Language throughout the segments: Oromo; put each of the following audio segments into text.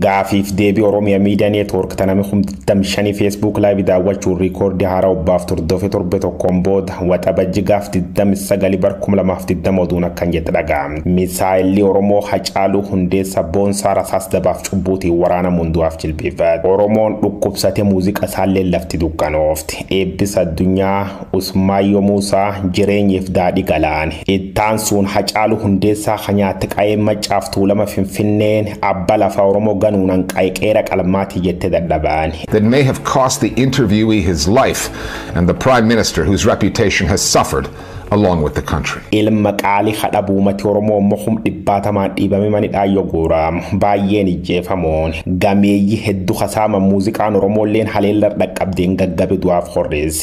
Gaafiif deebii Oromia Media Network ta nami kum 25 Facebook Live daawwachuun riikoordii haaraa obbaaf turdofe torbe tokkoon booda waxabajji gaaf 29 bar 2020 oduun akkan jette dhaga'am. Misaayilli Oromoo Hacaaluu Hundeessa Boonsaa Rasaas Dabaaf Cubbuutiin waraanamuun du'aaf jilbeeffate. Oromoon dhukkubsate muuziqa isaalleen lafti dukkanoofte. Eebbisa Addunyaa. Usmaayyoo Muusaa jireenyiif daadhi galaani. Ittaansuun Hacaaluu Hundeessaa ka nyaatte qayeen Maccaaf Tuulama Finfinneen abba lafaa Oromoo ganuunan qaye qeera qalmaati jette dadhabaani. that may have cost the interviewee his life and the Prime Minister whose reputation has suffered along with the country. Ilma qaali ka dhabu umati Oromoo immoo kum dhibbaatamaan dhiibame manidhaa yoo guuraamu. Baayyeen ijjeefamuun. Gameeyyi heddu ka saaman muuziqaan Oromoolleen haleellar dhaqqabdeen gaggabe du'aaf horreesse.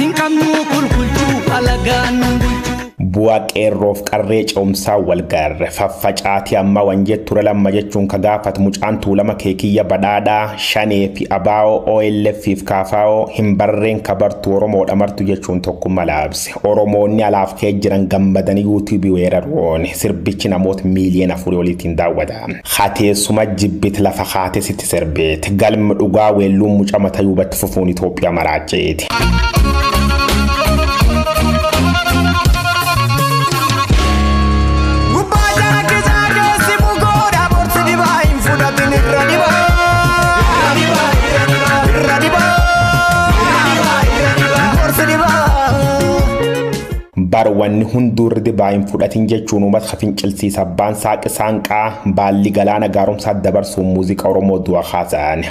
Hin qabnuu kulkulchuu alagaan nun bulchuu. Bu'aa qeerroof qarree ce'umsaa wal garre faffacaatii ammaa wan jetture lamma jechuun ka gaafat mucaan tuulama kee kiyya badhaadhaa shanee fi abaa'oo OLF fi kaafaa'oo hin barreen ka bartu oromoodha martu jechuun tokkumma laabse oromoonni alaaf kee jiran gammadanii yuutuubii weeraruun sirbichi namoota miiliyoona afurii oliitiin daawwata hateessuma jibbit lafa haate sitti sirbeet galmi dhugaa weelluun muca matayuu fufuun Itoophiyaa maraacha'eeti. Gubbaa jala keessaa keessi bugoodha borsi dibaa hin fudhatin irra dibaa. Irra dibaa. Borsi dibaa. Barwanni hunduu irra dibaa hin fudhatin jechuun uummata ka fincilsiisa abbaan saaqi saanqaa baalli galaana gaaromsaa dabarsuun muuziqaa Oromoo du'a kaasa'an.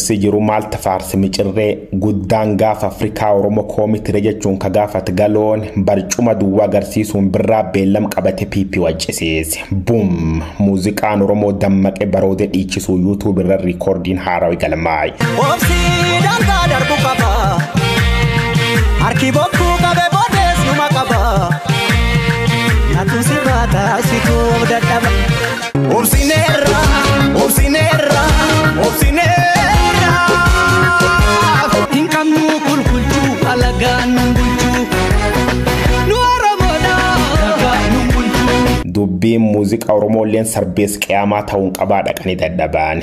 Si jiru maalti faarsi micirree guddaan gaafa Afrikaa Oromo koomitire jechuun ka gaafat galoon barcuma duwwa agarsiisuun birraa beellam qabate PP waccisiise. Bum! Muuziqaan Oromoo dammaqe baroode dhiichisuu YouTube irra riikoordiin haarawi galmaa'e. Obsi daangaa darbu qaba. Harki bokkuu qabe bodees numa qaba. Natu sirraa taasituu dadhaba. Obsineerra, obsineerra, obsineerra. Hin qabnu kulkulchuu alagaan nun bulchuu. Nu Oromoodha alagaan nun bulchuu. Dubbiin muuziqaa Oromoo illeen sarbees qiyaamaa ta'uun qabaa dhaqanii dadhabaan.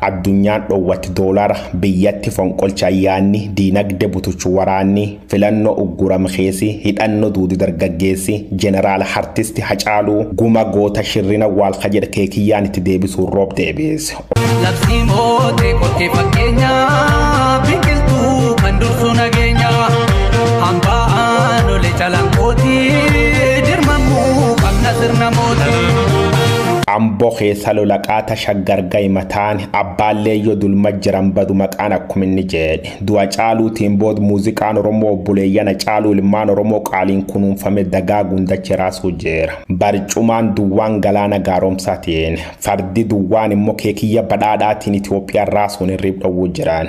Addunyaan dhowwatti doolara biyyatti fonqolcha yaanni diinagde butuchu waraanni filanno ugguram keesi hidhanno duudu dargaggeessi jeneraal hartisti hacaaluu guma goota shirrin awwaalka jedh kee kiyyaan itti deebisuun roob deebiis. Labsii mootee kottee fakkeenyaa biqiltuu kan dursu nageenya hambaa aanolee calanqooti dirmamuu qabna sirna mootii. Amboo keessa lola qaata shaggar Gayi mataan abbaallee yoo dulma jiran badu maqaan akkuma inni jeedhe du'a caaluutiin bood muuziqaan oromoo obboleeyyan acaaluu ilmaan oromoo qaaliin kunuunfame dagaaguun dache raasuu jeera barcumaan duwwaan galaana gaaromsaatiin fardi duwwaan immoo keekiyya badhaadhaatiin itoophiyaan raasuun hirriib dhowwuu jiraan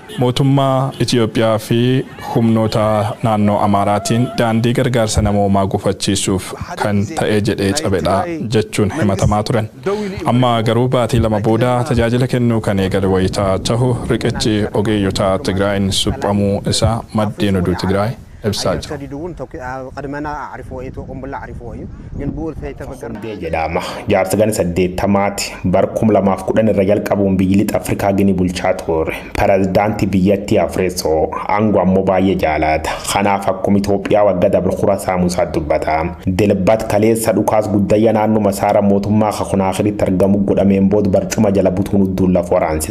Mootummaa Itiyoophiyaa fi humnoota naannoo Amaaraatiin daandii gargaarsa namoomaa gufachiisuuf kan ta'e jedhee cabedha jechuun himatamaa turan. Amma garuu baatii lama booda tajaajila kennuu kan eegale wayita tahu riqichi ogeeyyota Tigraayiin suphamuu isaa maddeen oduu Tigraay ibsaa jiru. Sondee jedhaama. Jaarsa gana saddeettamaati. Bar 2010 irra jalqabuun biyyi lixa Afrikaa Gini bulchaa tuure. Perazdaanti biyyattii afresoo. Ango ammo baay'ee jaalaata. Kanaaf akkum Itoophiyaa wagga dabre kura saamu isaa dubbata. Dilbat kaleessa dhukaas guddayya naannuma isaara mootummaa ka Konaakiritti argamu godhameen bood barcuma jala butuun udduun laf waraanse.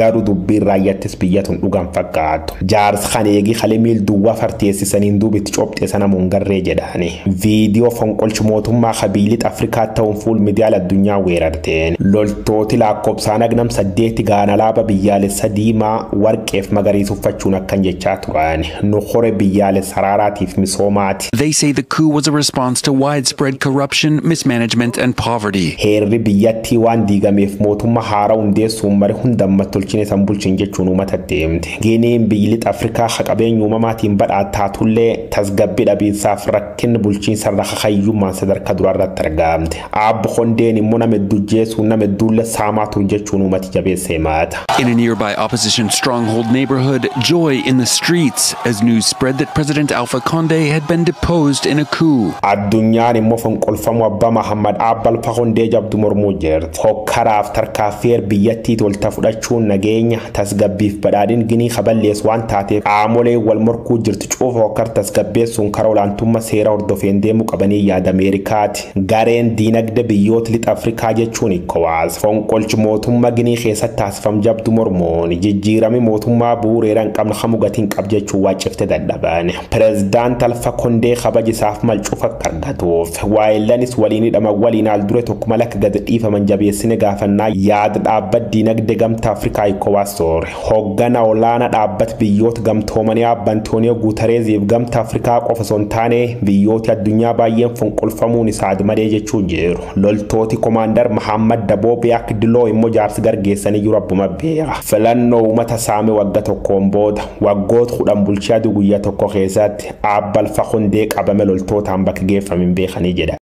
Garu dubbiin raayyattis biyya tun dhuga hin fakkaattu. Jaars kan eegi kale miil duwwa farteessisaniin duub itti cophxe sana mo hin garree jedhaani. Video fonqolch mootummaa ka biyyi lixa Afrikaat ta'uun fuul midiyaal addunyaa weerarteen. Loltooti laakkobsaan hag nam saddeeti gahan alaaba biyyaalessa diimaa, warqeef magariis uffachuun akkan jechaa turan. Nu kore biyyaalessa araaraatiif misoomaat. They say the coup was a response to widespread corruption, mismanagement, and poverty. Heerri biyyattii waan diigameef mootumma haaraa hundeessuun mari hunda ammattolchine san bulchin jechuun uumata deemte. Giniin biyyi lixa Afrikaa ka qabeenya uumamaatiin badhaat taatullee tasgabbi dhabiinsaaf rakkinni bulchiinsa irra kakayyummaan sadarkaa duraa irratti argaamte. Aab Kondeen immoo nama hedduu ajjeesuun nama hedduullee saamaa ture jechuun uummati jabeessa himata. In a nearby opposition stronghold neighborhood, joy in the streets as news spread that President Alpha Conde had been deposed in a coup. Addunyaan immoo fonqolfamuu Abbaa Mahaammad Aab Alpha Kondee jabdu mormuu jirti. Hokkaraaf tarkaaffii heer biyyattii tolta fudhachuun nageenya, tasgabbiif badhaadhin Ginii ka balleessu waan taateef qaamoleen wal morkuu jirtu cufa hokkar tasgabbeessuun karaa olaantumma seera hordofeen deemuu qabanii yaada Ameerikaati. Gareen diinagde biyyoot Lixa Afrikaa jechuun Ecowas fonqolch mootumma Ginii keessat taasifam jabdu mormuun jijjiirami mootummaa buureera hin qabn kamu gati hin qab jechuun waccifte dadhaban. Prezidaant Alfa Kondee kabaj isaaf mal cuf akka argatuuf waayellanis waliin hidhaman waliin haal dure tokko mal akka gad dhiifaman jabeessine gaafannaa yaad dhaabbat diinagde Gamta Afrikaa Ecowas ture. Hooggana olaana dhaabbat biyyoot gamtoomanii Aabba Antooniyoo Guutareeziif gamta Afrikaa qofa osoo hin taane biyyooti addunyaa baayyeen fonqolfamuun isa admadee jechuun jiru. Loltooti Komaandar Mahaammad Daboo Biyaak Diloo immo jaarsi gar geessaniyyuu rabbuma beeka. Filannoo umata saame wagga tokkoon booda, waggoot kudhan bulchee aduu guyya tokko keessaatti Aabba Alfa Kondee qabame loltootaan bakki geeffame hin beekanii jedha.